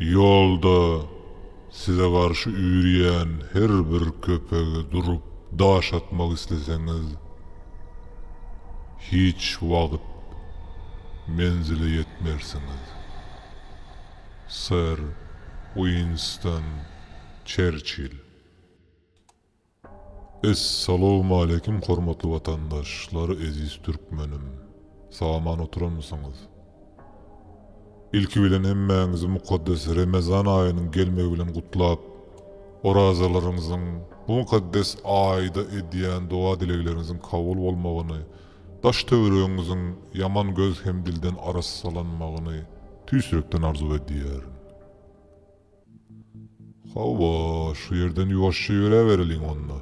Ýolda size garşy üýrýän her bir köpege durup daş atmak isleseňiz, hiç wagt menzile ýetmersiňiz. Ser Uinston Çerçill. Essalawmaleýkim hormatly watandaş lar eziz türkmenim saman oturanmysyňyz ilki bilen hemmäňizi mukaddes remezan aýynyň gelmegi bilen gutlap orazalaryňyzyň bu mukaddes aýda edýän doga dilegleriňiziň kabul bolmagyny daş töweregiňiziň ýaman göz hem dilden arassalanmagyny tüýs ýürekden arzuw edýärin. Hawa, şu ýerden ýuwaşja ýöräbereliň onda.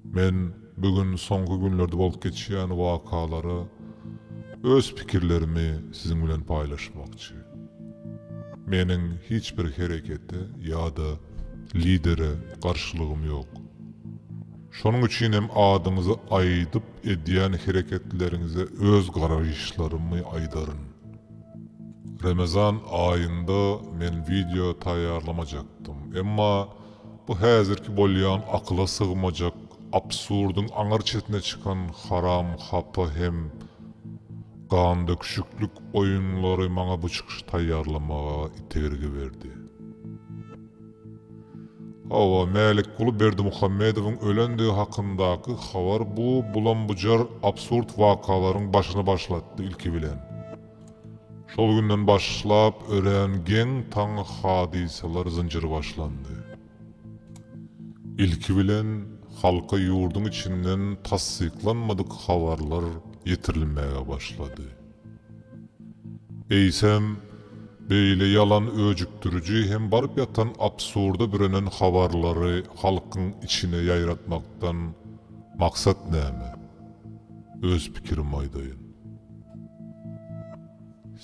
Men bu gün soňky günlerde bolup geçýän wakalara öz pikirlerimi siziň bilen paýlaşmakçy. Meniň hiç bir herekete ýa-da lidere garşylygym ýok. Şonuň üçin hem adyňyzy aýdyp edýän hereketleriňize öz garaýyşlarymy aýdaryn. Remezan aýynda men wideo taýýarlamajakdym. Emma bu häzirki bolýan akyla sygmajak, absurdyň aňyr çetine çykan haram hapa hem gandöküşiklik oýunlary maňa bu çykyşy taýýarlamaga itergi berdi. Hawa, Mälikguly Berdimuhamedowyň ölendigi hakyndaky habar bu bulam-bujar absurd wakalaryň başyny başlatdy, ilki bilen, şol günden başlap örän geň taň hadysalar zynjyry başlandy. Ilki bilen, halka ýurduň içinden tassyklanmadyk habarlar ýetirilmäge başlady. Eýsem, beýle ýalan öjükdiriji hem baryp ýatan absurda bürenen habarlary halkyň içine ýaýratmakdan maksat näme? Öz pikirimi aýdaýyn.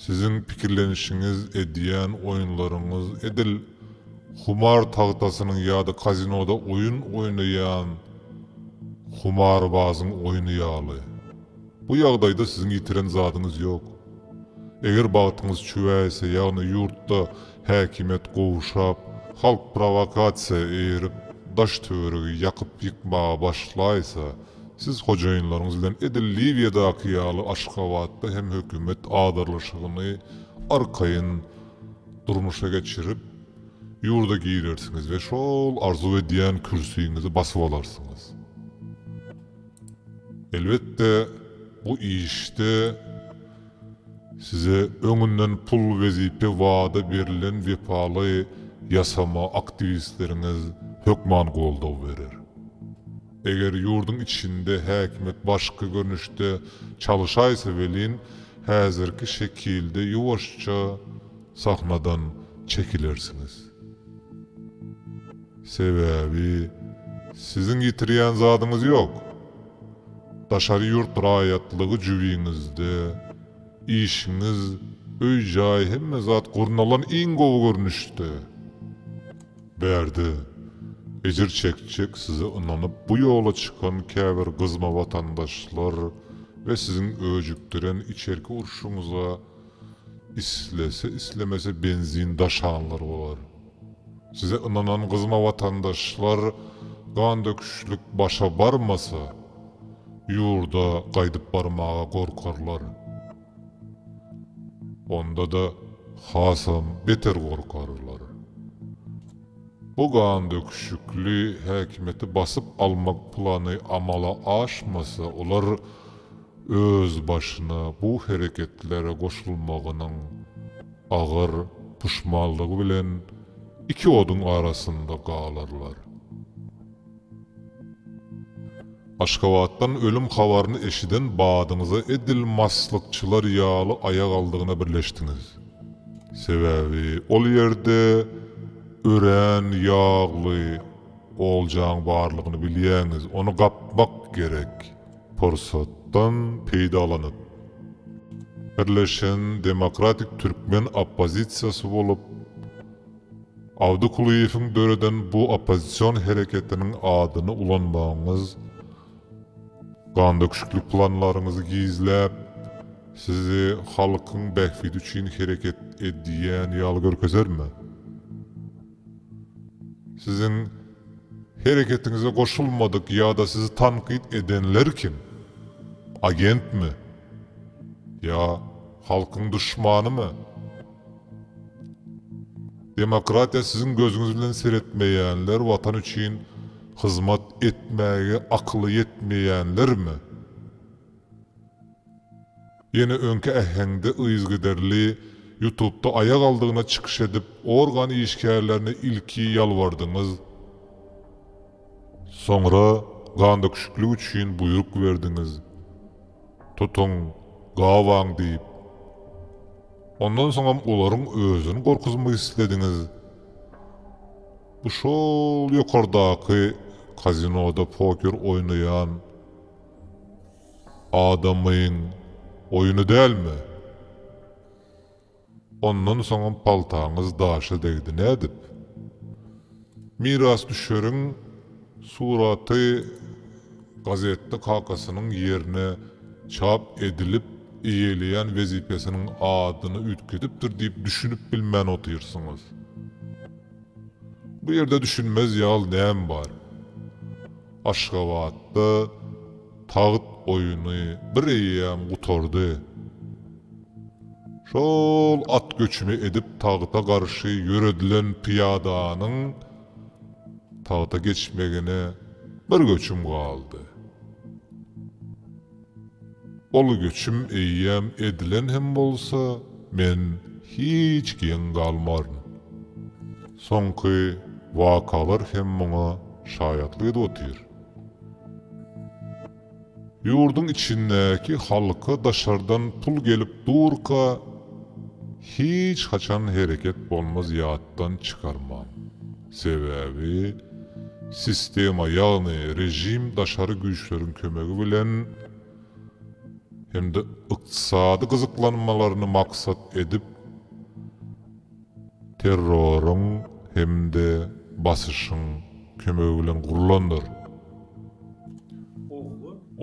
Siziň pikirlenişiňiz, edýän oýunlaryňyz edil humar tagtasynyň ýa-da kazinoda oýun oýnaýan humarbazyň oýny ýaly. Bu ýagdaýda siziň ýitiren zadyňyz ýok. Eger bagtyňyz çüwäýse, ýagny ýurtda häkimiýet gowşap, halk prowokasiýa eýerip, daş-töweregi ýakyp-ýykmaga başlaýsa, siz hojaýynlaryňyz bilen edil Liwiýadaky ýaly Aşgabatda hem hökümet adyrylyşygyny arkaýyn durmuşa geçirip, ýurda girersiňiz we şol arzuw edýän kürsiňizi basyp alarsyňyz. Elbetde bu işde size öňünden pul wezipe wada berilen wepaly ýasama aktiwistleriňiz hökman goldaw berer. Eger ýurduň içinde häkimiýet başga görnüşde çalyşaýsa welin häzirki şekilde ýuwaşja sahnadan çekilersiňiz. Sebäbi siziň ýitirýän zadyňyz ýok. Daşary ýurt raýatlygy jübiňizde, işiňiz, öý-jaý hemme zat gurnalan iň gowy görnüşde. Bärde, ejir çekjek size ynanyp bu ýola çykan käbir gyzma watandaşlar we siziň öjükdiren içerki urşuňyza islese-islemese benzin daşanlar bolar. Size ynanan gyzyma watandaşlar gandöküşlik başa barmasa ýurda gaýdyp barmaga gorkarlar. Onda-da hasam beter gorkarlar. Bu gandöküşikli häkimiýeti basyp almak plany amala aşmasa olar özbaşyna bu hereketlere goşulmagynyň Agyr puşmanlygy bilen iki oduň arasynda galarlar. Aşgabatdan ölüm habaryny eşiden badyňyza edil maslykçylar ýaly aýak aldygyna birleşdiňiz. Sebäbi ol ýerde örän ýagly oljaň barlygyny bilýäňiz, ony gapmak gerek. Pursatdan peýdalanyp, Birleşen demokratik türkmen oppozisiýasy bolup, Abdy Kulyýewiň döreden bu oppozision hereketiniň adyny ulanmagyňyz, gandöküşikli planlaryňyzy gizläp, sizi halkyň bähbidi üçin hereket edýän ýaly görkezermi? Siziň hereketiňize goşulmadyk ýa-da sizi tankyt edenler kim? Agentmi? Ýa halkyň duşmanymy? Demokratiýa siziň gözüňiz bilen seretmeýänler, watan üçin hyzmat etmäge akyly ýetmeýänlermi? Ýene öňki äheňde yzgiderli Ýutubda aýak aldygyna çykyş edip organ işgärlerine ilki ýalbardyňyz, soňra gandöküşiklik üçin buýruk berdiňiz, tutuň, gabaň diýip, ondan soňam olaryň özüni gorkuzmak islediňiz, bu şol ýokardaky kazinoda poker oýnaýan. Adamyň oýny dälmi? Ondan soňam paltaňyz daşa degdi nädip? Mirasdüşeriň suraty gazetde kakasynyň ýerine çap edilip, eýeleýän wezipesiniň adyny üýtgedipdir diýip düşünip bilmän otyrsyňyz. Bu ýerde düşünmez ýaly näme bar? Aşgabatda Tagt oýuny bir eýýäm gutardy. Şol at göçüni edip tagta garşy ýöredilen pyýadanyň tagta geçmegine bir göçüm galdy. Ol göçüm eýýäm edilen hem bolsa, men hiç geň galmaryn. Soňky wakalar hem muňa şaýatlyk edip otyr. Ýurduň içindäki halka daşardan pul gelip durka hiç haçan hereket bolmaz ýatdan çykarmaň. Sebäbi sistema ýagny režim daşary güýçleriň kömegi bilen hem-de ykdysady gyzyklanmalaryny maksat edip, terroryň hem-de basyşyň kömegi bilen gurlandyr.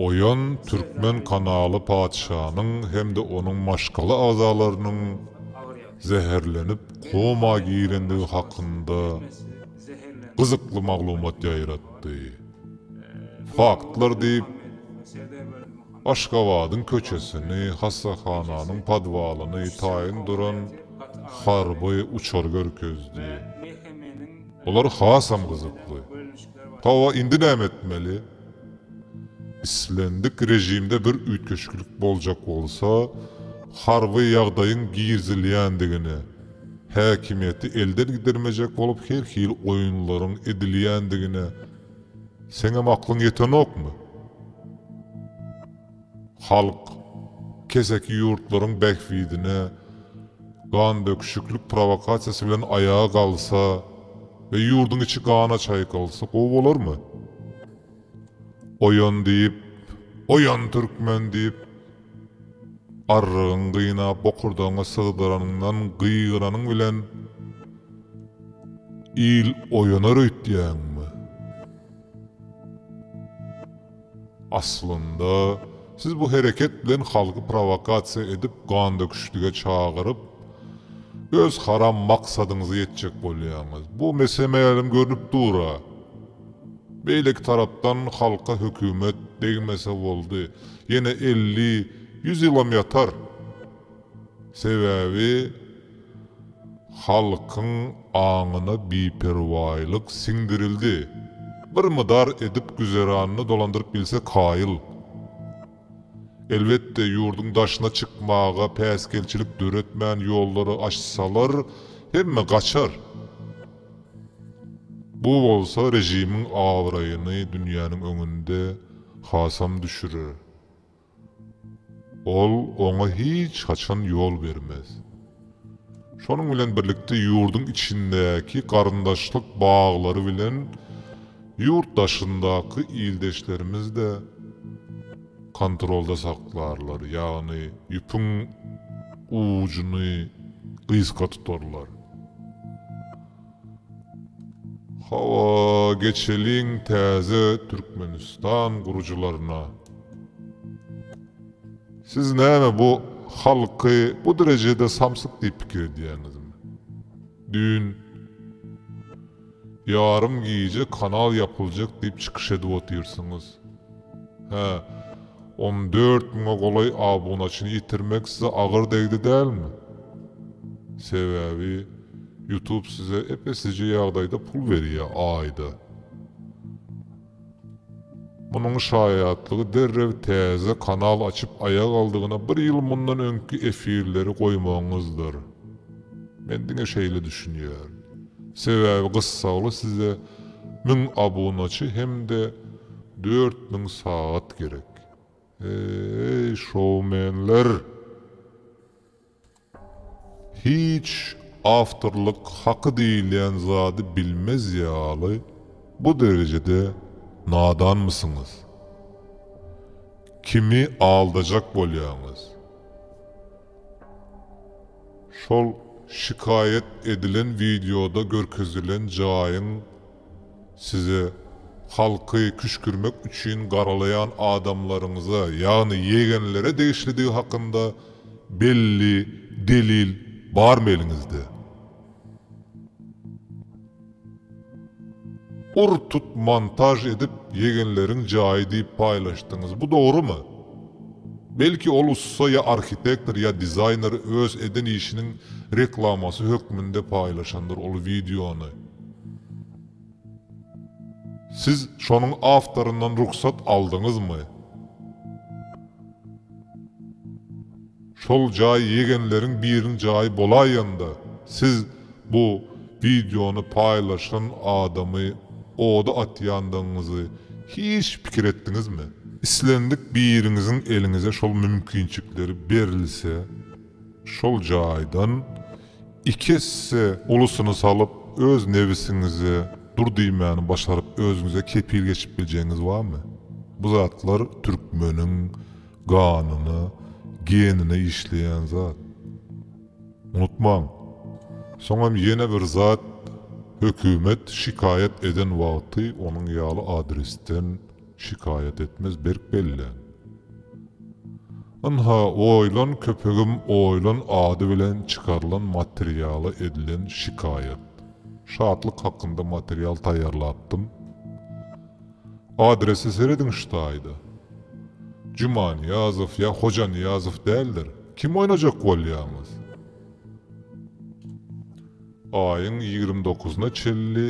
Oýan türkmen kanaly patyşanyň hem-de onuň maşgala agzalarynyň zäherlenip koma girendigi hakynda gyzykly maglumat ýaýratdy. Faktlar diýip. Aşgabadyň köçesini, hassahananyň podwalyny taýyn duran harby uçar görkezdi. Olar hasam gyzykly. Hawa, indi näme etmeli? Islendik režimde bir üýtgeşiklik boljak bolsa, harby ýagdaýyň girizilýändigini, häkimiýeti elden gidirmejek bolup her hili oýunlaryň edilýändigini, Seňem aklyň ýetenokmy? Halk, keseki ýurtlaryň bähbidine gandöküşiklik prowokasiýasy bilen aýaga galsa we ýurduň içi gana çaýkalsa gowy bolarmy? Oýan diýip, oýan türkmen diýip, Arrygyň gyna bokurdagyňy sygdyranyňdan gygyranyň bilen il oýanar öýtýäňmi? Aslynda, siz bu hereket bilen halky prowokasiýa edip gandöküşlige çagyryp, öz haram maksadyňyza ýetjek bolýaňyz. Bu mese-mälim görnüp dur-a. Beýleki tarapdan halka hökümet degmese boldy, ýene elli, ýüz ýylam ýatar. Sebäbi halkyň aňyna biperwaýlyk siňdirildi. Bir mydar edip güzeranyny dolandyryp bilse kaýyl. Elbetde, ýurduň daşyna çykmaga päsgelçilik döretmän ýollary açsalar, hemme gaçar. Bu bolsa režimiň abraýyny dünýäniň öňünde hasam düşürer. Ol oňa hiç haçan ýol bermez. Şonuň bilen birlikde ýurduň içindäki garyndaşlyk baglary bilen ýurt daşyndaky ildeşlerimiz-de, kontrolda saklarlar, ýagny ýüpüň ujuny gysga tutarlar. Hawa, geçeliň täze Türkmenistan gurujylaryna. Siz näme bu halky bu derejede samsyk diýip pikir edýäňizmi? Düýn. Ýarym gije kanal ýapyljak diýip çykyş edip otyrsyňyz. Hä, on dört müňe golaý abunaçyny ýitirmek size agyr degdi dälmi? Sebäbi Ýutub size ep-eslijeý ýagdaýda pul berýär, aýda. Munuň şaýatlygy derrew täze kanal açyp aýak aldygyna bir ýyl mundan öňki efirleri goýmagyňyzdyr. Men diňe şeýle düşünýän. Sebäbi gyssagly size müň abunaçy hem-de dört müň sagat gerek. Eý, şoumenler! Hiç awtorlyk haky diýilýän zady bilmez ýaly bu derejede nadanmysyňyz? Kimi aldajak bolýaňyz? Şol şikaýat edilen wideoda görkezilen jaýyň Size, halky küşgürmek üçin garalaýan adamlaryňyza, ýagny ýegenlere degişlidigi hakynda belli delil barmy eliňizde? Ur tut montaž edip ýegenleriň jaýy diýip paýlaşdyňyz, bu dogrumy? Belki ol ussa ýa arhitektor ýa dizaýner öz eden işiniň reklamasy hökmünde paýlaşandyr ol wideony. Siz şonuň awtoryndan rugsat aldyňyzmy? Şol jaý ýegenleriň biriň jaýy bolaýanda siz bu wideony paýlaşan adamy oda atýandygyňyzy hiç pikir etdiňizmi? Islendik biriňiziň eliňize şol mümkinçikleri berilse şol jaýdan Iki esse ulusyny salyp, öz nebisiňize dur diýmäni başaryp özüňize kepil geçip biljegiňiz barmy? Bu zatlar türkmeniň ganyna, genine işleýän zat. Unutmaň! Soňam ýene bir zat, hökümet şikaýat eden wagty onuň ýaly adresden, Şikaýat etmez berk bellän. Ynha, oýlan köpegim oýlan ady bilen çykarylan materiala edilen şikaýat. Şatlyk hakynda material taýýarlapdym. Adrese serediň şu taýda. Jumanyýazow ýa Hojanyýazow däldir. Kim oýnajak bolýaňyz? Aýyň ýigrimi dokuzyna çenli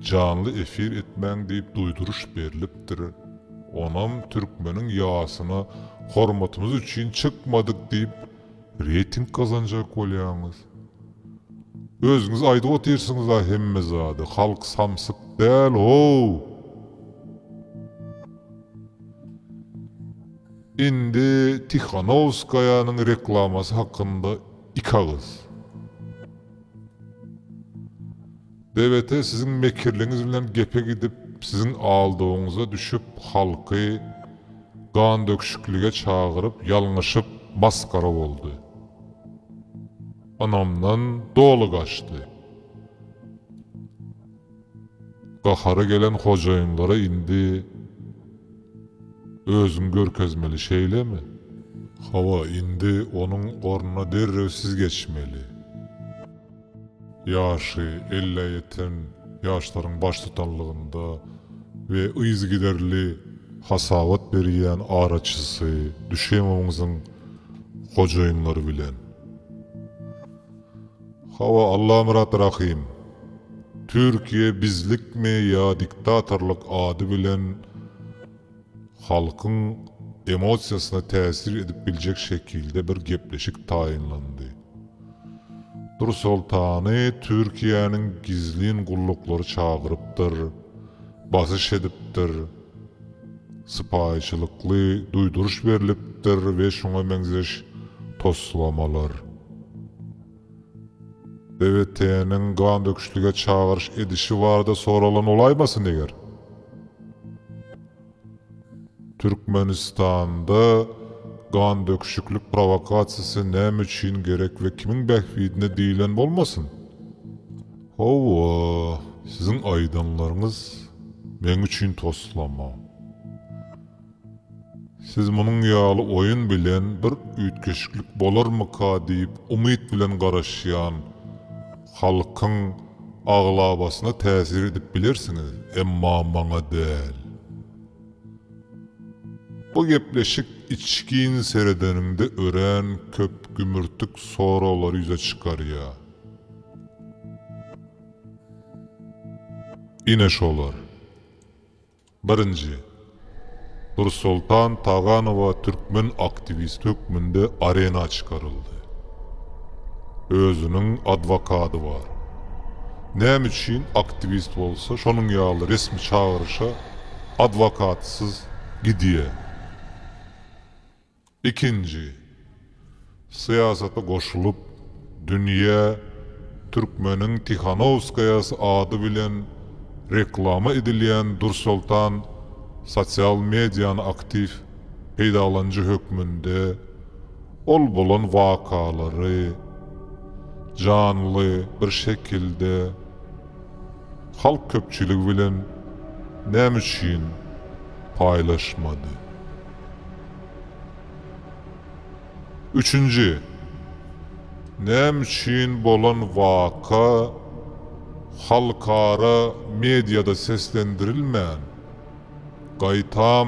janly efir etmäň diýip duýduryş berlipdir. Onam türkmeniň ýasyna hormatymyz üçin çykmadyk diýip reýting gazanjak bolýaňyz. Özüňiz aýdyp otyrsyňyz-a hemme zady, halk samsyk däl how! Indi Tihanowskaýanyň reklamasy hakynda Iki agyz. BBT siziň mekirligiňiz bilen gepe gidip, siziň aldawyňyza düşüp, halky gandöküşiklige çagyryp, ýalňyşyp, masgara boldy. Ynamdan doly gaçdy. Gahary gelen hojaýynlara indi özüňi görkezmeli, şeýlemi? Hawa, indi onuň ornuna derrew siz geçmeli. Ýaşy ellä ýeten ýaşlaryň baştutanlygynda we yzygiderli hasabat berýän araçysy Düşemowyňyzyň hojaýynlary bilen. Hawa Allamyrat Rahym. Türkiýe bizlikmi ýa diktatorlyk ady bilen halkyň emosiýasyna täsir edip biljek şekilde bir gepleşik taýynlandy. Nursoltany Türkiýäniň gizlin gulluklary çagyrypdyr, basyş edipdir. sypaýyçylykly duýduryş berlipdir we şuňa meňzeş toslamalar. BWT-niň gandöküşlige çagyryş edişi barada soralan bolaýmasyn eger? Türkmenistanda gandöküşiklik prowokasiýasy näme üçin gerek we kimiň bähbidine diýlen bolmasyn? Hawa, siziň aýdanlaryňyz meň üçin toslama. Siz munuň ýaly oýun bilen bir üýtgeşiklik bolarmyka diýip umyt bilen garaşýan halkyň aglabasyna täsir edip bilersiňiz, emma maňa däl. Bu gepleşik içgin seredeniňde örän köp gümürtik soraglar ýüze çykarýar. Ine şolar. Birinji. Nursoltan Taganowa türkmen aktiwisti hökmünde arena çykaryldy. Özüniň adwokady bar. Näme üçin aktiwist bolsa şonuň ýaly resmi çagyryşa adwokatsyz gidýär? Ikinji, syýasata goşulyp, dünýä türkmeniň Tihanowskaýasy ady bilen reklama edilýän Dursoltan sosial mediany aktiw peýdalanyjy hökmünde ol bolan wakalary janly bir şekilde halk köpçüligi bilen näme üçin paýlaşmady? Üçünji, näme üçin bolan waka halkara mediada seslendirilmän, gaýtam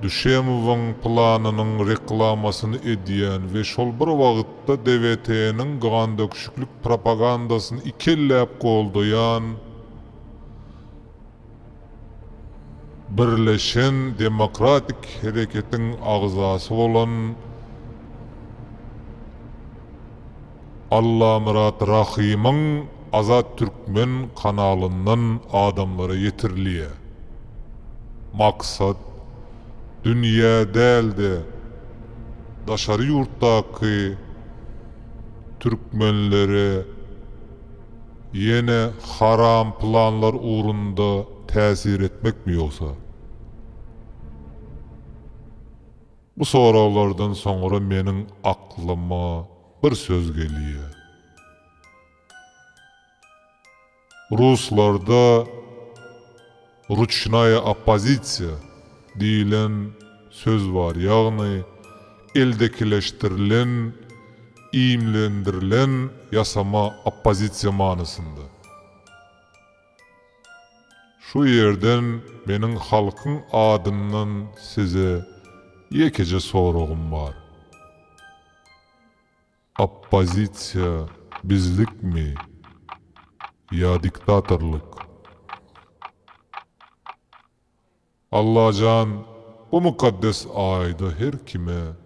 Düşemowyň planynyň reklamasyny edýän we şol bir wagtda DWT-niň gandöküşiklik propagandasyny ikelläp goldaýan, Birleşen demokratik hereketiň agzasy bolan Allamyrat Rahymyň Azat Türkmen kanalyndan adamlara ýetirilýär. Maksat, dünýä däl-de, daşary ýurtdaky türkmenlere, Ýene haram planlar ugrunda täsir etmekmi ýogsa? Bu soraglardan soňra meniň aklyma bir söz gelýär. Ruslarda Ruçnaýa oppozisiýa diýlen söz bar, ýagny eldekileşdirilen, iýmlendirilen ýasama oppozisiýa manysynda. Şu ýerden meniň halkyň adyndan size ýekeje soragym bar. Oppozisiýa bizlikmi ýa diktatorlyk? Allajan bu mukaddes aýda her kime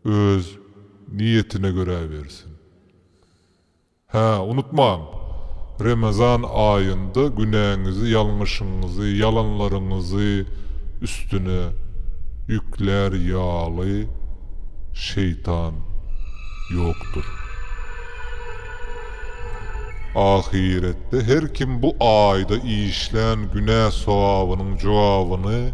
öz niýetine görä bersin. Hä, unutmaň! Remezan aýynda günäňizi, ýalňyşyňyzy, ýalanlaryňyzy üstüne ýüklär ýaly şeýtan ýokdur. Ahyretde her kim bu aýda işlän günä-sogabynyň jogabyny.